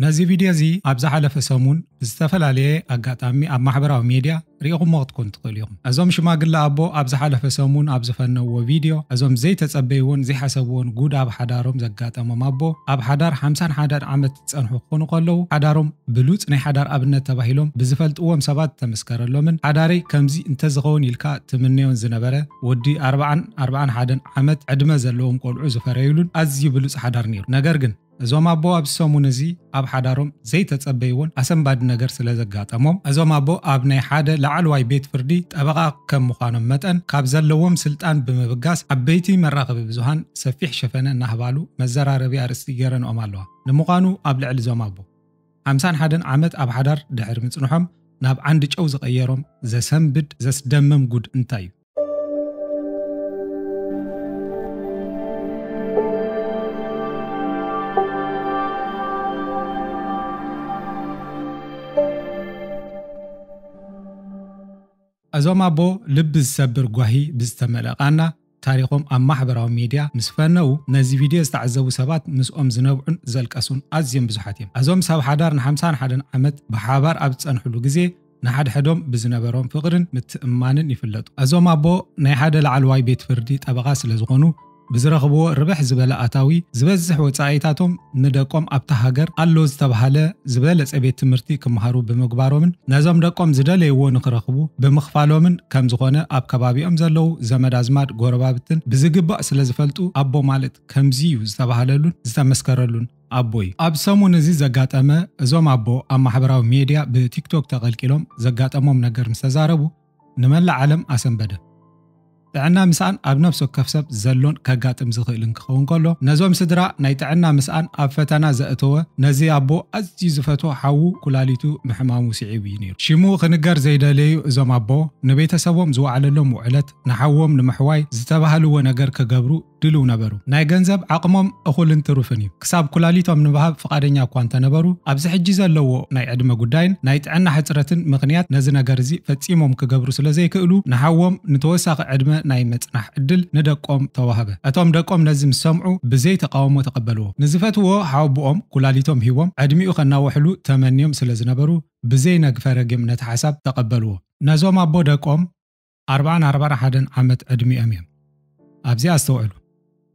ነዚ ቪድዮ እዚ ኣብ ዝሓለፈ ሰሙን ብዝተፈላለየ ኣጋጣሚ ኣብ ማሕበራዊ ሜድያ ርኢኹሞ ክትኮኑ ትኽእሉ ኢኹም። እዞም ሽማግለ ኣቦ ኣብ ዝሓለፈ ሰሙን ኣብ ዝፈነውዎ ቪድዮ፣ እዞም ዘይተጸበይዎን ዘይሓሰብዎን ጉድ ኣብ ሓዳሮም ዘጋጠሞም ኣቦ፣ ኣብ ሓዳር ሓምሳን ሓደን ዓመት ዝጸንሑ ክኾኑ ከለዉ፣ ሓዳሮም ብሉጽ ናይ ሓዳር ኣብነት ተባሂሎም ብዝፈልጥዎም ሰባት ዝተመስከረሎምን ሓዳረይ ከምዚ እንተዝኸውን ኢልካ ትምነዮን ዝነበረ ወዲ ኣርባዓን ኣርባዓን ሓደን ዓመት ዕድመ ዘለዎም ቆልዑ ዝፈረዩሉን ኣዝዩ ብሉጽ ሓዳር ነይሩ። ነገር ግን። እዞም ኣቦ ኣብዚ ሰሙን እዚ ኣብ ሓዳሮም ዘይተጸበይዎን ኣሰንባዲ ነገር ስለ ዘጋጠሞም፣ እዞም ኣቦ ኣብ ናይ ሓደ ላዕለዋይ ቤት ፍርዲ ጠበቓ ከም ምዃኖም መጠን ካብ ዘለዎም ስልጣን ብምብጋስ ዓበይቲ መራኸቢ ብዙሃን ሰፊሕ ሸፈነ እናህባሉ መዘራረቢ ኣርእስቲ ገይረንኦም ኣለዋ። ንምዃኑ ኣብ ልዕሊ እዞም ኣቦ ሓምሳን ሓደን ዓመት ኣብ ሓዳር ድሕሪ ምጽንሖም ናብ ዓንዲ ጨው ዝቐየሮም ዘሰንብድ ዘስደምም ጉድ እንታይ እዩ? እዞም ኣቦ ልቢ ዝሰብር ጓሂ ብዝተመልኣ ቃና ታሪኾም ኣብ ማሕበራዊ ሚድያ ምስ ፈነዉ ነዚ ቪድዮ ዝተዓዘቡ ሰባት ምስኦም ዝነብዑን ዘልቀሱን ኣዝዮም ብዙሓት እዮም። እዞም ሰብ ሓዳር ንሓምሳን ሓደን ዓመት ብሓባር ኣብ ዝፀንሕሉ ግዜ፣ ንሓድሕዶም ብዝነበሮም ፍቕርን ምትእምማንን ይፍለጡ። እዞም ኣቦ ናይ ሓደ ላዕለዋይ ቤት ፍርዲ ጠበቓ ስለ ዝኾኑ ብዝረኽብዎ ርብሕ ዝበለ ኣታዊ ዝበዝሕ ወጻኢታቶም ንደቆም ኣብታ ሃገር ኣሎ ዝተብሃለ ዝበለጸ ቤት ትምህርቲ ክመሃሩ ብምግባሮምን ነዞም ደቆም ዝደለይዎ ንክረኽቡ ብምኽፋሎምን ከም ዝኾነ ኣብ ከባቢኦም ዘለዉ ዘመድ ኣዝማድ ጎረባብትን ብዝግባእ ስለ ዝፈልጡ ኣቦ ማለት ከምዚ እዩ ዝተብሃለሉን ዝተመስከረሉን ኣቦይ ኣብ ሰሙን እዚ ዘጋጠመ እዞም ኣቦ ኣብ ማሕበራዊ ሜድያ ብቲክቶክ ተቐልቂሎም ዘጋጠሞም ነገር ምስ ተዛረቡ ንመላእ ዓለም ኣሰንበደ። ጥዕና ምስኣን ኣብ ነፍሲ ወከፍ ሰብ ዘሎን ከጋጥም ዝኽእልን ክኸውን ከሎ፣ ነዞም ስድራ ናይ ጥዕና ምስኣን ኣብ ፈተና ዘእተወ ነዚ ኣቦ ኣዝዩ ዝፈትዎ ሓዉ ኩላሊቱ ምሕማሙ ስዒቡ እዩ ነይሩ። ሽሙ ክንገር ዘይደለዩ እዞም ኣቦ ንቤተሰቦም ዝወዓለሎም ውዕለት ንሓዎም ንምሕዋይ ዝተባህልዎ ነገር ክገብሩ ድሉው ነበሩ። ናይ ገንዘብ ዓቕሞም እኹልን ትሩፍን እዩ። ክሳብ ኩላሊቶም ንምሃብ ፍቓደኛ እኳ እንተ ነበሩ፣ ኣብዚ ሕጂ ዘለዎ ናይ ዕድመ ጉዳይን ናይ ጥዕና ሕጽረትን ምኽንያት ነዚ ነገር እዚ ፈጺሞም ክገብሩ ስለ ዘይክእሉ፣ ንሓዎም ንተወሳኺ ዕድመ ናይ ምጽናሕ ዕድል ንደቆም ተዋህበ። እቶም ደቆም ነዚ ምስ ሰምዑ ብዘይ ተቓውሞ ተቐበልዎ። ንዝፈትውዎ ሓወቦኦም ኩላሊቶም ሂቦም ዕድሚኡ ከናውሕሉ ተመንዮም ስለ ዝነበሩ ብዘይ ነግፈ ረጊም ነቲ ሓሳብ ተቐበልዎ። ነዞም ኣቦ ደቆም ኣርባን ኣርባን ሓደን ዓመት ዕድሚኦም እዮም። ኣብዚ ኣስተውዕሉ፣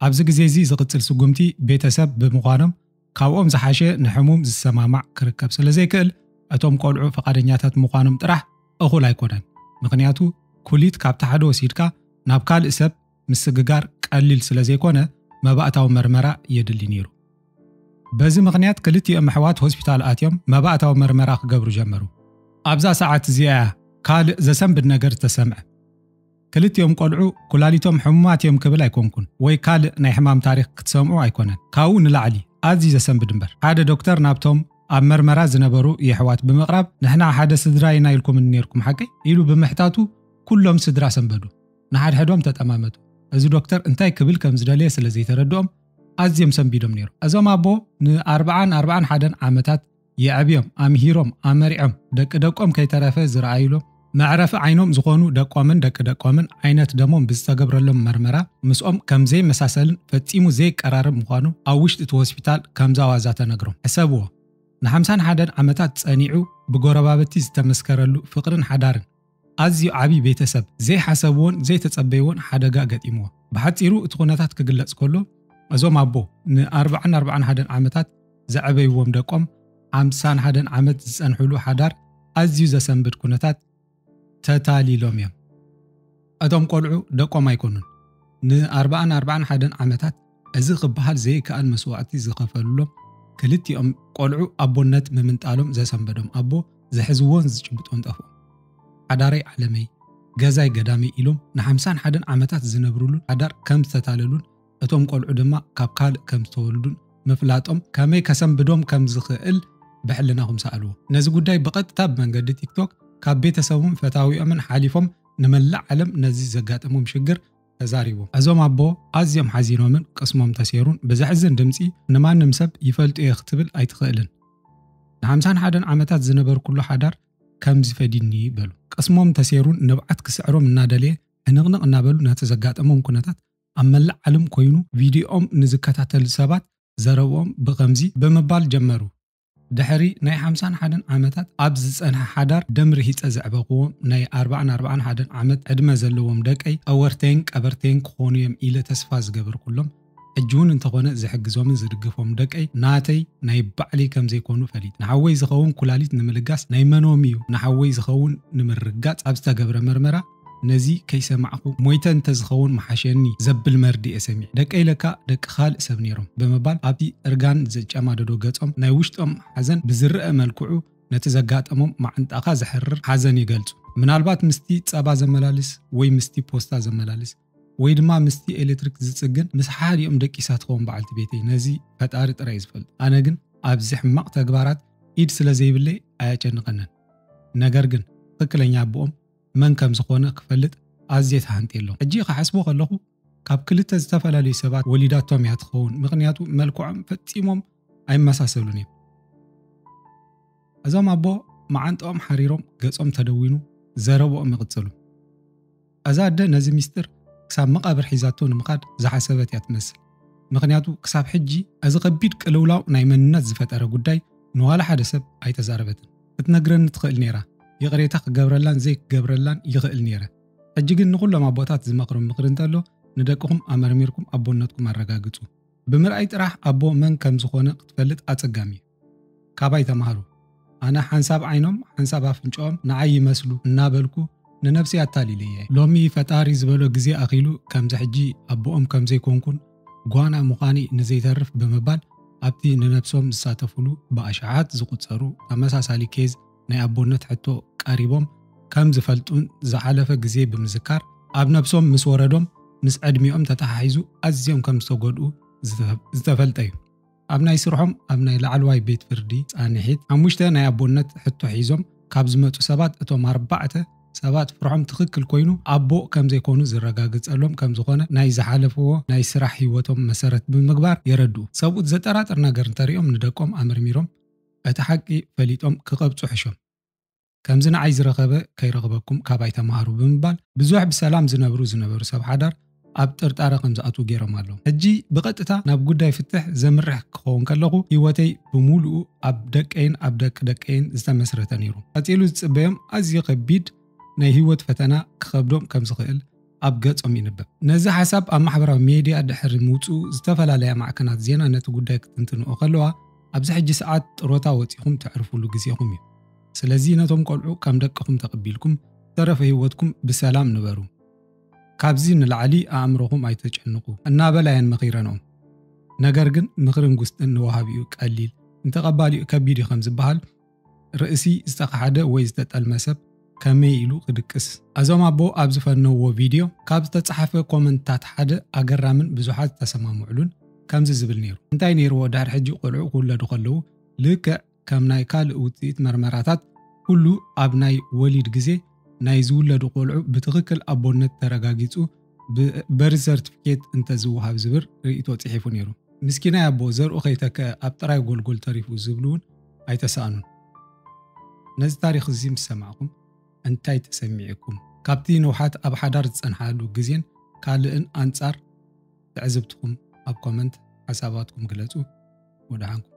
ኣብዚ ግዜ እዚ ዝቕጽል ስጉምቲ ቤተ ሰብ ብምዃኖም ካብኦም ዝሓሸ ንሕሙም ዝሰማማዕ ክርከብ ስለ ዘይክእል እቶም ቆልዑ ፍቓደኛታት ምዃኖም ጥራሕ እኹል ኣይኮነን ምኽንያቱ ኩሊት ካብ ታሕዶ ወሲድካ ናብ ካልእ ሰብ ምስግጋር ቀሊል ስለ ዘይኮነ መባእታዊ መርመራ የድሊ ነይሩ። በዚ ምኽንያት ክልቲኦም ኣሕዋት ሆስፒታል ኣትዮም መባእታዊ መርመራ ክገብሩ ጀመሩ። ኣብዛ ሰዓት እዚኣ'ያ ካልእ ዘሰንብድ ነገር ዝተሰምዐ። ክልቲኦም ቆልዑ ኩላሊቶም ሕሙማት እዮም ክብል ኣይኮንኩን ወይ ካልእ ናይ ሕማም ታሪኽ ክትሰምዑ ኣይኮነን። ካብኡ ንላዕሊ ኣዝዩ ዘሰንብድ እምበር ሓደ ዶክተር ናብቶም ኣብ መርመራ ዝነበሩ የሕዋት ብምቕራብ ንሕና ሓደ ስድራ ኢና ኢልኩምኒ ነይርኩም ሓቀይ? ኢሉ ብምሕታቱ ኩሎም ስድራ ሰንበዱ። ንሓድሕዶም ተጠማመቱ። እዚ ዶክተር እንታይ ክብል ከም ዝደለየ ስለ ዘይተረድኦም ኣዝዮም ሰንቢዶም ነይሮም። እዞም ኣቦ ንኣርብዓን ኣርብዓን ሓደን ዓመታት የዕብዮም፣ ኣምሂሮም፣ ኣመሪዖም፣ ደቂ ደቆም ከይተረፈ ዝረኣዩሎም፣ መዕረፊ ዓይኖም ዝኾኑ ደቆምን ደቂ ደቆምን ዓይነት ደሞም ብዝተገብረሎም መርመራ ምስኦም ከም ዘይመሳሰልን ፈጺሙ ዘይቀራረብ ምዃኑ ኣብ ውሽጢ እቲ ሆስፒታል ከምዛ ዋዛ ተነግሮም። ሕሰብዎ! ንሓምሳን ሓደን ዓመታት ጸኒዑ ብጎረባብቲ ዝተመስከረሉ ፍቕርን ሓዳርን፣ ኣዝዩ ዓቢ ቤተሰብ፣ ዘይሓሰብዎን ዘይተጸበይዎን ሓደጋ ገጢምዎ። ብሓጺሩ እቲ ኩነታት ክግለጽ ከሎ፣ እዞም ኣቦ ንኣርብዓን ኣርብዓን ሓደን ዓመታት ዘዕበይዎም ደቆም ሓምሳን ሓደን ዓመት ዝጸንሕሉ ሓዳር ኣዝዩ ዘሰንብድ ኩነታት ተታሊሎም እዮም። እቶም ቆልዑ ደቆም ኣይኮኑን። ንኣርብኣን ኣርብዓን ሓደን ዓመታት እዚ ክበሃል ዘይከኣል መስዋእቲ ዝኸፈሉሎም ክልቲኦም ቆልዑ ኣቦነት ምምንጣሎም ዘሰንበዶም ኣቦ ዝሕዝዎን ዝጭብጦን ጠፍኦም። ሓዳረይ ዓለመይ፣ ገዛይ ገዳመይ ኢሎም ንሓምሳን ሓደን ዓመታት ዝነብርሉን ሓዳር ከም ዝተታለሉን እቶም ቆልዑ ድማ ካብ ካልእ ከም ዝተወልዱን ምፍላጦም ከመይ ከሰንብዶም ከም ዝኽእል ብሕልናኹም ሰኣልዎ። ነዚ ጉዳይ ብቐጥታ ብመንገዲ ቲክቶክ ካብ ቤተሰቦምን ፈታዊኦምን ሓሊፎም ንመላእ ዓለም ነዚ ዘጋጠሞም ሽግር ተዛሪቡ። እዞም ኣቦ ኣዝዮም ሓዚኖምን ቅስሞም ተሴሩን ብዘሕዝን ድምጺ ንማንም ሰብ ይፈልጦ'የ ክትብል ኣይትኽእልን። ንሓምሳን ሓደን ዓመታት ዝነበርኩሉ ሓዳር ከምዚ ፈዲኒ በሉ። ቅስሞም ተሴሩን ንብዓት ክስዕሮም እናደለየ ሕንቕንቕ እናበሉ ነቲ ዘጋጠሞም ኩነታት ኣብ መላእ ዓለም ኮይኑ ቪድዮኦም ንዝከታተሉ ሰባት ዘረብኦም ብኸምዚ ብምባል ጀመሩ። ድሕሪ ናይ ሓምሳን ሓደን ዓመታት ኣብ ዝጸንሐ ሓዳር ደም ርሂጸ ዘዕበኹዎም ናይ ኣርባዕን ኣርባዓን ሓደን ዓመት ዕድመ ዘለዎም ደቀይ ጠወርተይን ቀበርተይን ክኾኑ እዮም ኢለ ተስፋ ዝገበርኩሎም ሕጂ እውን እንተኾነ ዝሕግዞምን ዝድግፎም ደቀይ ናተይ ናይ ባዕለይ ከም ዘይኮኑ ፈሊጥ ንሓወይ ዝኸውን ኩላሊት ንምልጋስ ናይ መኖም እዩ ንሓወይ ዝኸውን ንምርጋጽ ኣብ ዝተገብረ መርመራ ነዚ ከይሰማዕኩ ሞይተ እንተዝኸውን ምሓሸኒ ዘብል መርድእ'የ ሰሚዐ። ደቀይ ለካ ደቂ ካልእ ሰብ ነይሮም ብምባል ኣብቲ እርጋን ዘጨማደዶ ገጾም ናይ ውሽጦም ሓዘን ብዝረኣ መልክዑ ነቲ ዘጋጠሞም መዓንጣኻ ዘሕርር ሓዘን ይገልጹ። ምናልባት ምስቲ ጸባ ዘመላልስ ወይ ምስቲ ፖስታ ዘመላልስ ወይ ድማ ምስቲ ኤሌክትሪክ ዝጽግን ምስ ሓሓዲኦም ደቂሳ ትኸውን በዓልቲ ቤተይ፣ ነዚ ፈጣሪ ጥራይ'ዩ ዝፈልጦ። ኣነ ግን ኣብዚ ሕማቕ ተግባራት ኢድ ስለዘይብለይ ኣየጨንቐንን። ነገር ግን ትኽክለኛ ኣቦኦም መን ከም ዝኾነ ክፈልጥ ኣዝየ ተሃንጥየሎም። ሕጂ ክሓስቦ ከለኹ ካብ ክልተ ዝተፈላለዩ ሰባት ወሊዳቶም እያ ትኸውን፣ ምኽንያቱ መልክዖም ፈጺሞም ኣይመሳሰሉን እዮም። እዞም ኣቦ መዓንጥኦም ሓሪሮም ገጾም ተደዊኑ ዘረብኦም ይቕጽሉ። እዛ ኣደ ነዚ ሚስጥር ክሳብ መቓብር ሒዛቶ ንምኻድ ዝሓሰበት እያ ትመስል። ምኽንያቱ ክሳብ ሕጂ እዚ ከቢድ ቅልውላው ናይ መንነት ዝፈጠረ ጉዳይ ንዋላ ሓደ ሰብ ኣይተዛረበትን። ክትነግረኒ ትኽእል ነይራ ይቕሬታ ክገብረላን ዘይክገብረላን ይኽእል ነይረ ሕጂ ግን ንኹሎም ኣቦታት ዝመኽርም ምኽሪ እንተሎ ንደቅኹም ኣመርሚርኩም ኣቦነትኩም ኣረጋግጹ ብምርኣይ ጥራሕ ኣቦ መን ከም ዝኾነ ክትፈልጥ ኣጸጋሚ እዩ ካባይ ተማሃሩ ኣነ ሓንሳብ ዓይኖም ሓንሳብ ኣፍንጫኦም ንዓይ ይመስሉ እናበልኩ ንነብሲ ኣታሊለየ ሎሚ ፈጣሪ ዝበሎ ግዜ ኣኺሉ ከምዚ ሕጂ ኣቦኦም ከም ዘይኮንኩን ጓና ምዃን'ዩ ንዘይተርፍ ብምባል ኣብቲ ንነብሶም ዝሳተፍሉ ብኣሽሓት ዝቑጸሩ ተመሳሳሊ ኬዝ ናይ ኣቦነት ሕቶ ቀሪቦም ከም ዝፈልጡን ዝሓለፈ ግዜ ብምዝካር ኣብ ነብሶም ምስ ወረዶም ምስ ዕድሚኦም ተተሓሒዙ ኣዝዮም ከም ዝተጎድኡ ዝተፈልጠ'ዩ። ኣብ ናይ ስርሖም ኣብ ናይ ላዕለዋይ ቤት ፍርዲ ፃንሒት ሓሙሽተ ናይ ኣቦነት ሕቶ ሒዞም ካብ ዝመፁ ሰባት እቶም ኣርባዕተ ሰባት ፍርሖም ትኽክል ኮይኑ ኣቦ ከምዘይኮኑ ዝረጋገፀሎም ከምዝኾነ ናይ ዝሓለፍዎ ናይ ስራሕ ሂወቶም መሰረት ብምግባር የረድኡ። ሰብኡት ዘጠራጥር ነገር እንተሪኦም ንደቆም ኣመርሚሮም እቲ ሓቂ ፈሊጦም ክቐብፁ ሕሾም። ከምዚ ንዓይ ዝረኸበ ከይረኽበኩም ካባይ ተማሃሩ ብምባል ብዙሕ ብሰላም ዝነብሩ ዝነበሩ ሰብ ሓዳር ኣብ ጥርጣረ ከም ዝኣትዉ ገይሮም ኣለዉ። ሕጂ ብቐጥታ ናብ ጉዳይ ፍትሕ ዘምርሕ ክኸውን ከለኹ ህይወተይ ብምሉኡ ኣብ ደቀይን ኣብ ደቂ ደቀይን ዝተመስረተ ነይሩ። ቀጺሉ ዝጽበዮም ኣዝዩ ከቢድ ናይ ህይወት ፈተና ክኸብዶም ከም ዝኽእል ኣብ ገጾም ይንበብ። ነዚ ሓሳብ ኣብ ማሕበራዊ ሜድያ ድሕሪ ምውጽኡ ዝተፈላለያ ማዕከናት ዜና ነቲ ጉዳይ ክትንትንኦ ከለዋ ኣብዚ ሕጂ ሰዓት ጥሮታ ወጺኹም ተዕርፉሉ ግዜኹም እዩ። ስለዚ ነቶም ቆልዑ ከም ደቅኹም ተቐቢልኩም ዝተረፈ ህይወትኩም ብሰላም ንበሩ። ካብዚ ንላዕሊ ኣእምሮኹም ኣይተጨንቑ እናበላ እየን መኺረንኦም። ነገር ግን ምኽርን ጉስጥን ንወሃቢኡ ቀሊል ንተቐባሊኡ ከቢድ እዩ ከም ዝበሃል፣ ርእሲ ዝተኻሕደ ወይ ዝተጠልመ ሰብ ከመይ ኢሉ ክድቅስ? ኣዞም ኣቦ ኣብ ዝፈነውዎ ቪድዮ ካብ ዝተጻሓፈ ኮመንትታት ሓደ ኣገራምን ብዙሓት ዝተሰማምዕሉን ከምዚ ዝብል ነይሩ፣ እንታይ ነይርዎ ድሕሪ ሕጂ ቆልዑ ክውለዱ ከለዉ ልክዕ ከም ናይ ካልእ ውጽኢት መርመራታት ኩሉ ኣብ ናይ ወሊድ ግዜ ናይ ዝውለዱ ቆልዑ ብትኽክል ኣቦነት ተረጋጊጹ ብበርዝ ሰርትፍኬት እንተዝወሃብ ዝብር ርእይቶ ጽሒፉ ነይሩ። ምስኪናይ ኣቦ ዘርኡ ከይተከ ኣብ ጥራይ ጎልጎል ተሪፉ ዝብሉ እውን ኣይተሳእኑን። ነዚ ታሪኽ እዚ ምስ ሰማዕኩም እንታይ ተሰሚዒኩም? ካብቲ ንውሓት ኣብ ሓዳር ዝጸንሓሉ ግዜን ካልእን ኣንጻር ትዕዝብትኹም ኣብ ኮመንት ሓሳባትኩም ግለጹ። ወደሓንኩም።